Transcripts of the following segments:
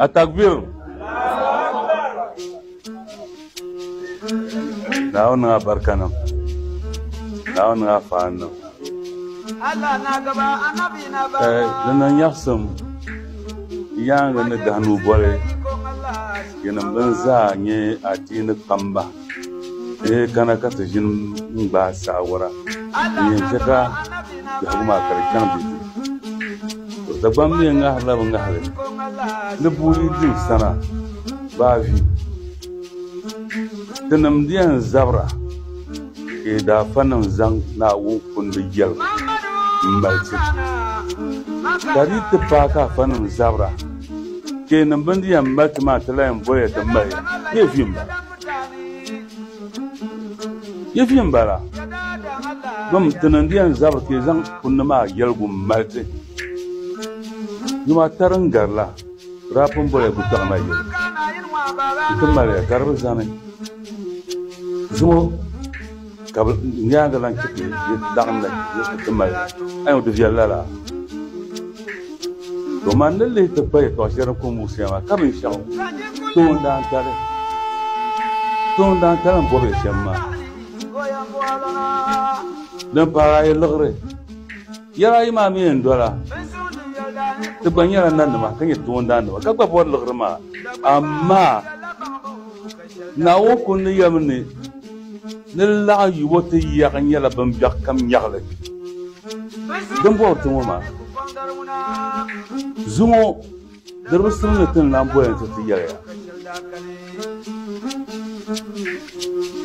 Atakbir! Naawu niŋ a barika niŋ. Naawu niŋ a fahan niŋ. Ka di niŋ nyaɣisim yaaŋa ni dahinuu boli yinim bɛn zaa nyɛ adiini kpamba. Bee kana ka ti ʒini n-gbaai saawara n-yɛn chɛ ka biɛhigu maa ka di chaŋ di du. To Dagbamba mi yɛn ŋahirila bɛ ŋahili ni bɛ yi din sana baa vi. Tinim di yɛn zabira ka yi daafanim zaŋ Naawuni kundi yɛligu m-mali ti, ka di yi ti paai ka afanim zabira Kpee niŋ bini di yɛn mali ti maa ti lan yɛn boli ya ti mali ya. Yi vi m-bala. Yi vi m-bala. Bim ti niŋ di yɛn zabiri ti zaŋ kunni maa yɛligu m-mali ti. Yom ata din gari la, rap m-boli ya gutaɣ na yɛligu. Nti mali ya gari bi zani. Zuŋɔ. Ka bɛ nyaaŋa lan chɛ ti ni ti laɣim na Kristi ti mali li. Ayo, di viɛl lala! To man ni lihi ti kpa yɛtɔɣ shɛli din kɔŋ Musia maa, ka binshɛɣu toon daa tali n bɔb ya shɛm maa. Din pahir a yi liɣiri, yɛl ayi maa mi yɛn dɔla. Ti gba nyɛla nanima ka nyɛ toondaannima, ka gba bɔri liɣiri maa. Amaa! Naawuni kundi yɛlimi ni, Ni di laɣim yi bo ti yiɛɣu nyɛla bimbiɛɣu kam nyaɣili. Din bɔri ti ŋɔ maa, zuŋɔ diribi simdi ni ti ni lan boli ni ti ti yɛliya.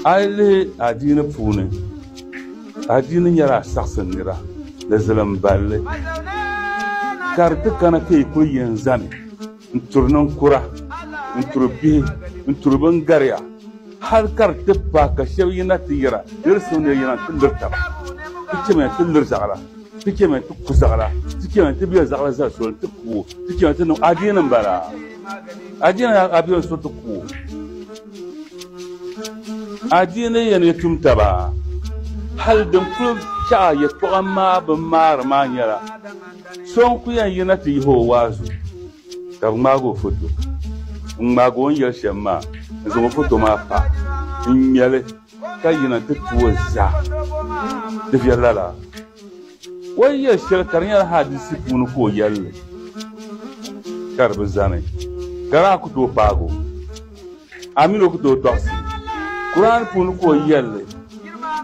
A yi lihi adiini puuni, adiini nyɛla saɣisim nira ni zilim balli, ka di ti kana ka yi kuli yɛn zani. n turi ninkura, n turi bihi, n turi bin gariya, hal ka di ti pahi ka shɛba yina ti yɛra ni di suŋ ni yɛn yina ti liri taba. Ti chɛmiya nti liri zaɣira, ti chɛmiya nti ku zaɣira, ti chɛmiya nti be zaɣira zali soli nti ku o, ti chɛmiya nti niŋ adiini m-bala. Adiini yaa ka bɛ yɛn so ti ku o. Adiini yɛn yi tum taba, hal din kul chaɣi yɛtɔɣa maa bi maari maa nyɛla, So n ku yɛn yina ti yihi o waazu ka bi ŋmaagi o foto. N ŋmaagi o ni yɛli shɛm maa, n zaŋ o foto maa pa, n ŋmɛ li ka yina ti tu o zaa. Di viɛli lala. O yi yɛli shɛli ka di nyɛla hadisi puuni ka o yɛli li, ka di bi zani, ka daa ku tooi paagi o. Amin o ku tooi tɔɣisi Kur'an puuni ka o yɛli li,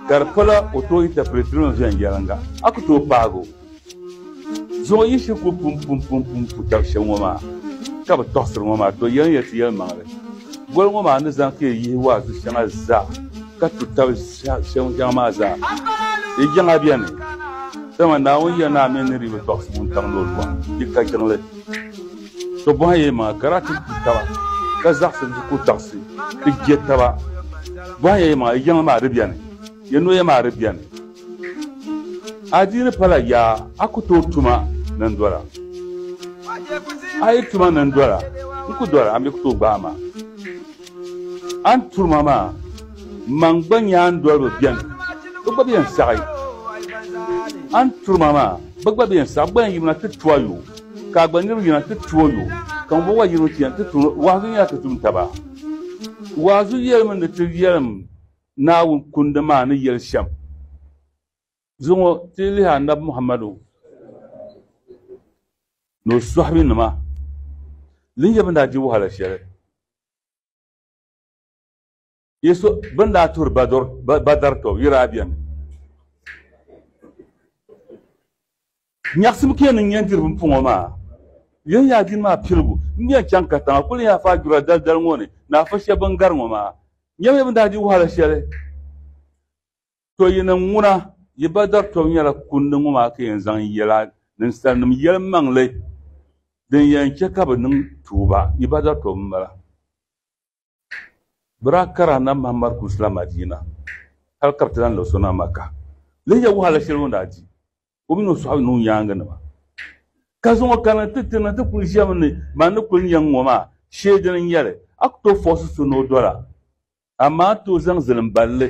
ka di pala o tooi intɛpirɛtiri mi viɛnyɛliŋga, a ku tooi paagi o. Zuɣu yiɣisi ku pum pum pum pum ku tab shɛm ŋɔ maa ka bi tɔɣisiri ŋɔ maa, to yɛlin yɛliti yɛlimaŋli. Goli ŋɔ maa ni zaŋ ka yi yihi waazu shɛŋa zaa ka tu tab shɛm shɛŋa maa zaa. Yi jiŋa beni, dama Naawuni ya naa mi ni di bi tɔɣisi ŋun tam ni o zuɣu ni, yi ka jiŋli. To bɔhi yɛlimaŋli ka daa tin tu taba ka zaɣisim ti ku taɣisi ti je taba. Bɔhi yɛlimaŋli, yi jiŋli maa di beni? Yi noya maa di beni? A dii ni pala yaa a ku tooi tuma ni n dɔra. A yi tuma ni n dɔra, n ku dɔra, a mi ku tooi gbaai ma. A ni turi ma maa, man gba nyaandoliba beni, bɛ gba bi yɛn saɣi. A ni turi ma maa, bɛ gba bi yɛn saɣi. Bɛ gba yɛn yiri na ti tu a yo, ka a gba niriba yiri na ti tu o yo, ka ŋumbɔŋɔ gba yiri mi ti yɛn ti tu. Waazu nyɛla ti tum taba. Waazu yɛlimi ni ti yɛlim Naawuni Kundi maa ni yeli shem zuŋɔ ti yi lihi Anabi Muhammadu ni o sɔhibinima din nyɛ bɛn daa di wahala sheli Yesu bɛn daa tuhiri Badr tɔbu yira a beni. Nyaɣisim ka yɛn niŋ yɛn diri bimpɔŋɔ maa. Yɛn yaa dini maa piligu n-nyɛ n chaŋ katiŋ a kuli ni yaa faa dura dalidali ŋɔ ni ni afa shɛba bɛn gari ŋɔ maa. Nyamiya bɛn daa di wahala shɛli. Tɔ yi niŋ ŋuna, yi ba dari tɔbu nyɛla kundi ŋɔ maa ka yɛn zaŋ yɛla ninsalinim yɛlimaŋli din yɛn chɛ ka bɛ niŋ tuuba. Yi ba dari tɔbu m-bala. Bɛ daa kari Anabi Muhammad kulisila Madiina hal ka bɛ ti lan lahi so na Makka. Lihiya wahala shɛli o ni daa di o mini o sɔhib ni o nyaaŋanima, ka zaŋ o kana ti ti na ti kul ʒiɛmi ni ban ni kul nya n ŋɔ maa shee dini n-nyɛli. A ku tooi fɔɣisi so ni o doli a, amaa a tooi zaŋ zilim bal li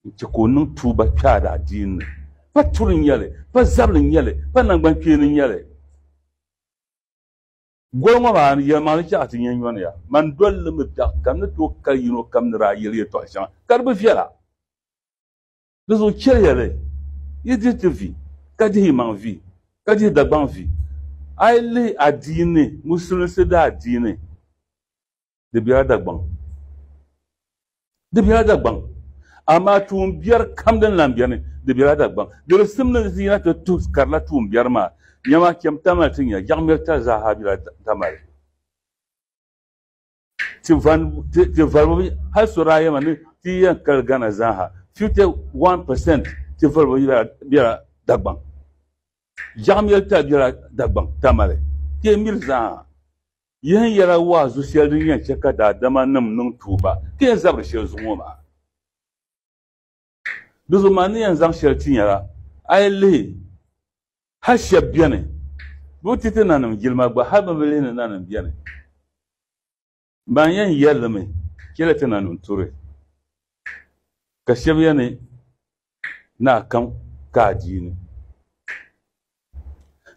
n-chɛ ka o niŋ tuuba kpe a daadiini ni. Pa turi n-nyɛ li, pa zabili n-nyɛ li, pa naŋgbankpeeni n-nyɛ li. Gol ŋɔ maa ni, yɛlimaŋli chɛ ka ti nya nyɔniya. Mani dol li mi biɛɣu kam ni tooi kali yino kam ni daa yɛli yɛtɔɣ shɛŋa, ka di bi viɛla. Di zuɣu chɛliya bɛ yi dihi ti vi, ka dihi yimaŋ vi, ka dihi Dagbaŋ vi. A yi lihi adiini, Musulinsi daadiini, di biɛla Dagbaŋ di biɛla Dagbaŋ amaa tuun biɛri kam din lan beni di biɛla Dagbaŋ gilisim ni di yina ti tuhi karila tuun biɛri maa nyama chɛm Tamale ti nya Jaɣimiri tali zaa ha biɛla Tamale ti valibu hal so daa yɛma ni ti yi yɛn kali Ghana zaa ha 51% ti valibu biɛla Dagbaŋ Jaɣimiri tali biɛla Dagbaŋ Tamale ti yi miri zaa ha Yihi yɛla waazu shɛli din yɛn chɛ ka daadama nim niŋ tuuba ti yɛn zabiri shɛli zuɣu ŋɔ maa. Di zuɣu maa ni yɛn zaŋ shɛli ti nyɛla, a yi lihi hal shɛb beni bɛ bi ti ti nanim jilima gba, hal bɛ bi lihi ni nanim beni ban yɛn yɛlimi chɛli ti nanim turi, ka shɛb yɛn ni Naa kam ka a di ni.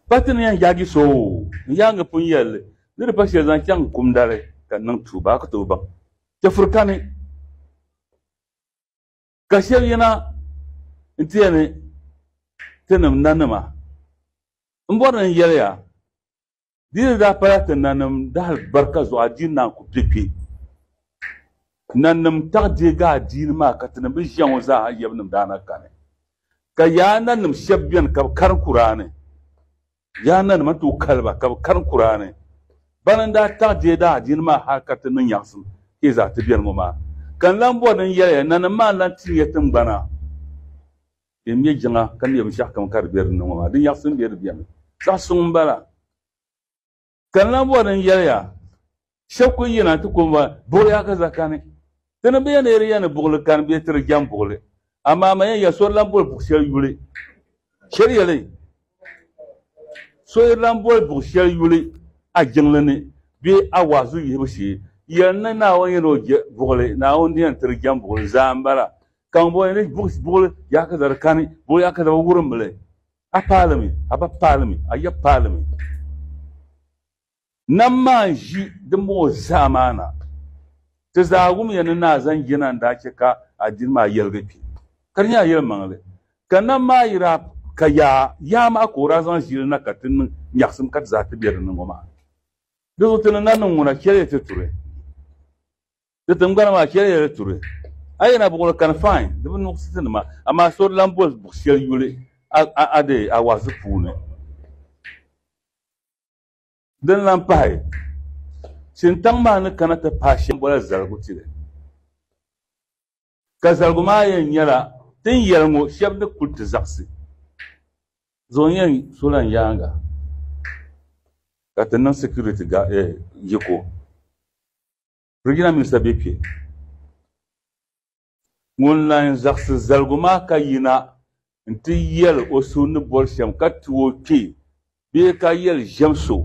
Pa ti ni yɛn yaagi so o ni yaangi pun yɛli li, ni di pa shɛli zaŋ chaŋ kumda li ka n niŋ tuuba, a ku tooi baŋ. Chɛfuri kani ka shɛb yina nti yɛn ni tinim nanima m-bɔri ni n yɛli ya. Di ni daa pala ti nanim dahalibarika zuɣu adiini naan ku kpe kpe. Nanim taɣi deegi adiini maa ka tinim bi ʒiɛŋɔ zaaha yɛbinim daa na kani. Ka yaa nanim shɛb beni ka bi karim Kuraani, yaa nanim a tooi kali ba ka bi karim Kuraani. Bana n-daa taɣi deegi adiini maa hal ka ti niŋ nyaɣisim hee zaa ti beni ŋɔ maa. Ka n lan bɔri ni n yɛli ya, nanim maa n-lan ti nya tiŋgbana. Din nyɛ jiŋa ka neei binshɛɣu kam ka di be din ni ŋɔ maa, di nyaɣisim be di bɛni zaɣ suŋ m-bala. Ka n lahi bɔri ni n yɛli ya, shɛb ku yina nti ku bɔri, Buɣili ya ka za kani. Di ni be ya ni yɛli ya ni buɣili kani bee ti di jɛm buɣili, amaa man ya, ya so di lan boli buɣ shɛli yuli. Chɛli ya li, so yi lan boli buɣ shɛli yuli a jiŋli ni bee a waazu yihibu shee, yɛli ni Naawuni yɛn ni o je buɣili, Naawuni ni yɛn ti di jɛm buɣili zaa m-bala. Ka ŋun bɔŋɔ ni buɣili yaa ka dari kani, buɣili yaa ka dari wurim li. A paali mi, a ba paali mi, a ya paali mi. Nam maa n-ʒi din bɔŋɔ zaa maa na. Ti zaa wum ya ni ni a zaŋ jina n-daa chɛ ka a dini maa yɛligi kpi. Ka di nyɛla yɛlimaŋli. Ka nam maa yi daa ka yaa, yaa maa ka o daa zaŋ ʒi li na ka ti niŋ nyaɣisim ka ti zaa ti be di ni ŋɔ maa. Di zuɣu ti ni na niŋ ŋuna, chɛliya ti turi. Di tingbana maa chɛli ya di turi. A yɛn na buɣiri kani fain di bi nuɣisi ti nima, amaa so di lan boli buɣ shɛli yuli a dee a waɣizi puuni. Din lan pahi, shintaŋ maa ni kana ti pahi shɛm bola zaligu tili, ka zaligu maa yɛn nyɛla tin yɛli ŋɔ shɛb ni kul ti zaɣisi zuɣu n-yɛn so lan yaaŋa ka ti niŋ sikiriti yiko. Regional Minister be kpe. Ŋun lan zaɣisi zaligu maa ka yina nti yɛl o so ni boli shɛm ka ti o kpe bee ka yɛl ʒiɛm so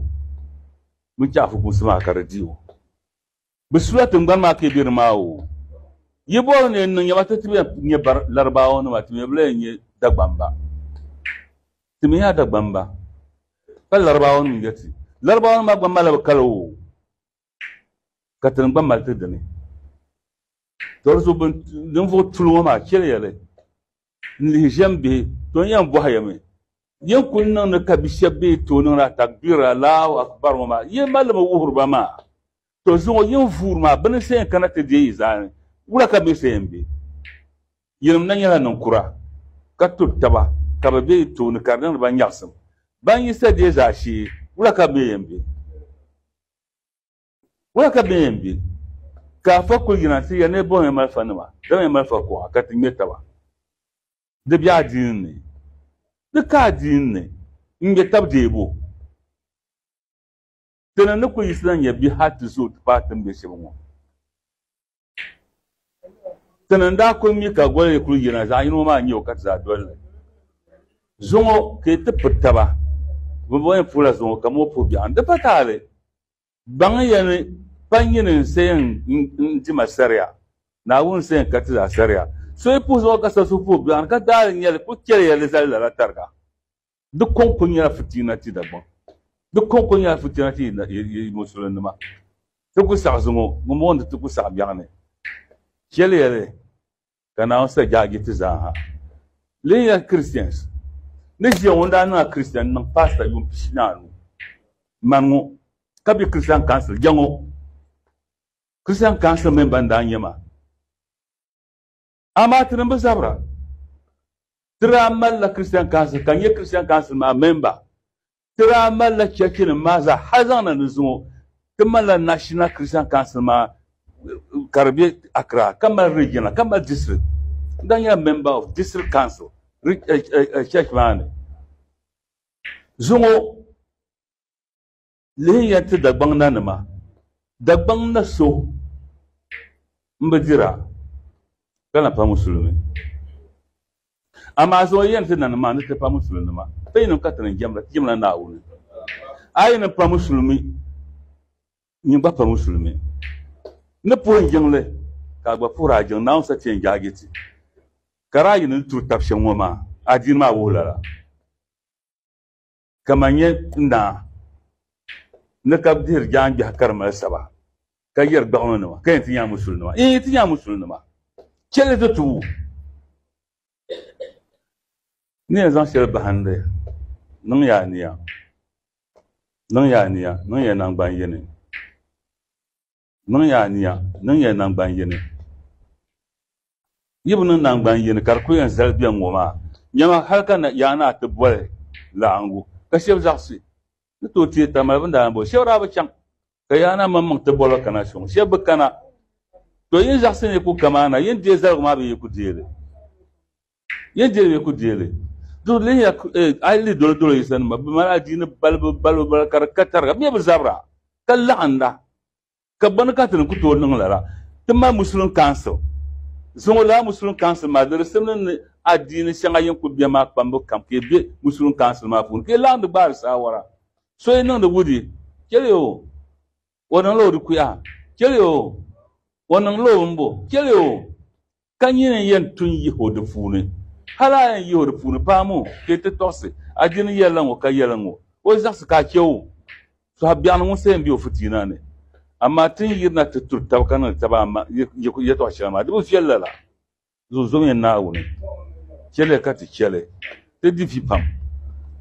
mini chɛ afukumsi maa ka di di o. Bɛ sula tiŋgbani maa ka yi be di maa oo. Yi boli ni yi niŋ yɛma ti ti bɛn nyɛ Laribaawanima ti mi bi lan nyɛ Dagbamba. Ti mi yaa Dagbamba, ka Laribaawanim yɛti, Laribaawanima gba malila bɛ kali oo. ka ti ni gba mali ti dini. Doli zuɣu bin ninvuɣu tuli ŋɔ maa chɛliya li n-lihi ʒiɛm bihi, to yɛn bɔhi ya mi, Yin kul niŋdi ka bi shɛb bee tooi niŋdi a takbiir, Allahu Akbar, ŋɔ maa, yin mali li mi wuhiri ba maa? To zuŋɔ yin vuuri maa, bɛ ni siɣi n-kana ti deei yi zaa ni, wula ka bɛ siɣi m-be? Yinim na nyɛla ninkura, ka turi taba ka bɛ be yi tooni ka di niŋdi ba nyaɣisim. Ban yi sa deei zaashee, wula ka bɛ yɛn be? Wala ka bɛ yɛn be? Ka afa kul yina ti ya ni bɛ bɔhimi malifanima, dama malifa kuɣa ka ti ŋme taba. Di be adiini ni. Di ka adiini ni n-ŋme tab deebu. Ti ni ni kul yiɣisila nya bɛ hal ti zooi ti paai tiŋbiɛ shɛba ŋɔ. Ti ni daa kuli mi ka goli kuli yina zaɣ yino maa nyɛ o ka ti zaa doli li. Zuŋo ka yi ti piri taba bi bɔni puhila zuŋo ka moo puhi biɛɣu. Di pa taali baŋya ni pa nyini n-seei n-dima saria, Naawuni n-seei n ka ti zaa saria. So yi puhi zuŋo ka so su puhi biɛɣu ni ka daali nyɛli kuli chɛliya li zali lala tariga. di kɔŋko nyɛla fitina ti Dagbaŋ di kɔŋko nyɛla fitina ti yi musulinima ti ku saɣi zuŋɔ ŋun bɔŋɔ nti ti ku saɣi biɛɣu ni shɛli yɛli ka Naawuni sa jaaji ti zaaha lee nyɛla Christians ni ʒiya ŋɔ daa niŋla Christian niŋ pastor yuun pishi ni anu man ŋɔ ka be Christian Council jɛŋɔ Christian Council member n-daa nyɛ ma Amaa ti ni bi zabira, ti daa malila Christian Council ka nyɛ Christian Council maa memba. Ti daa malila chɛchinim maa zaa hali zaŋ na ni zuŋɔ ti malila National Christian Council maa ka di be Accra ka mali regional ka mali district. N daa nyɛla member of district council ri- eh, eh, eh, church maa ni. Zuŋɔ Lihiya ti Dagbaŋ nanima. Dagbaŋ na so m-bi dira ka na pa musulimi. Amaa zuŋɔ yɛn ti nanim maa ni ti pa musulinima. Ti yinim ka ti ni jɛmda, ti jɛmla Naawuni. A yi ni pa musulimi, nyin gba pa musulimi. Ni puhi jiŋli, ka a gba puhir a jiŋ, Naawuni sa ti yɛn jaagi ti. Ka daa yi ni turi tab shɛm ŋɔ maa, adiini maa wuhi lala. Ka man nyɛ naa ni ka dihiri jaangbɛhi ka di mali saba ka yɛri gbaɣino nima ka yɛn ti nya musulinima yɛn yi ti nya musulinima chɛli ti tubu ni yɛn zaŋ shɛli bahindi niŋ ya niya niŋ ya niya niŋ ya nangban yini Niŋ ya aniya, niŋ ya nangban yini. Yi bi niŋ nangban yini ka di kul yɛn zali bɛn ŋɔ maa, nyama hal ka yaa naa ti boli laɣiŋgu ka shɛb zaɣisi ni tooi teei taba mali bɛ ni daa boli. Shɛb daa bi chaŋ ka yaa naa maŋmaŋ ti bol ba kana shɛm, shɛb bi kana. Tɔ! Yin zaɣisi ni yi ku ka maa na, yin deei zaligu maa bee yi ku deei li? Yen deeli bɛ ku deeli. Duri lihiya eh, a yi lihi dolo dolo yisanima bɛ mali adiini balibu balibu balibu ka di ka tariga bɛ mi bi zabira ka laɣinda ka bɔni ka ti ni ku tooi niŋ lala ti mali Muslim Council zuŋɔ lala Muslim Council maa di di simdi ni adiini shɛŋa yin ku beni maa kpambu kam ka yi be Muslim Council maa puuni ka yi laɣindi gbaari saawara so yi niŋdi wudi cheli o O niŋla o di kuya, cheli o, o niŋla o bimbo, cheli o, ka nyini yɛn tu n-yih o di puuni. Hal a yɛn yih o di puuni, paam o, ka yi ti tɔɣisi a dini yɛlila ŋɔ ka yɛli ŋɔ, O zaɣisi ka a chɛ o tɔha biɛɣuni ŋun sa yɛn be o fitiina ni. Amaa ti ni yirina ti turi taba ka niŋdi taba yɛtɔɣ shɛli maa, di bi viɛl lala. zunzumiya Naawuni, chɛliya ka ti chɛli ti di vi pam,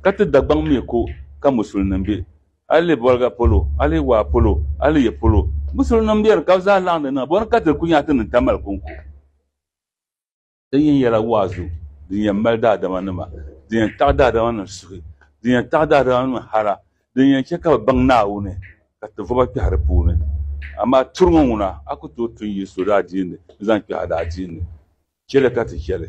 ka ti Dagbaŋ mi ko ka musulinim be, a lihi boliga polo, a lihi waa polo, a lihi ya polo, musulinim beni ka bɛ zaa laɣim di niŋ, bɔni ka ti di kunya ti niŋ tamali kɔŋko? Din yɛn yɛla waazu din yɛn mali daadamanima, din yɛn taɣi daadamanim suhi, din yɛn taɣi daadamanim hara, Din yɛn chɛ ka bɛ baŋ Naawuni ka ti vɔba kpɛhi di puuni. Amaa turiŋɔ ŋuna, a ku tooi tu n-yi so daadiini n-zaŋ kpɛhi a daadiini. Chɛ li ka ti chɛ li.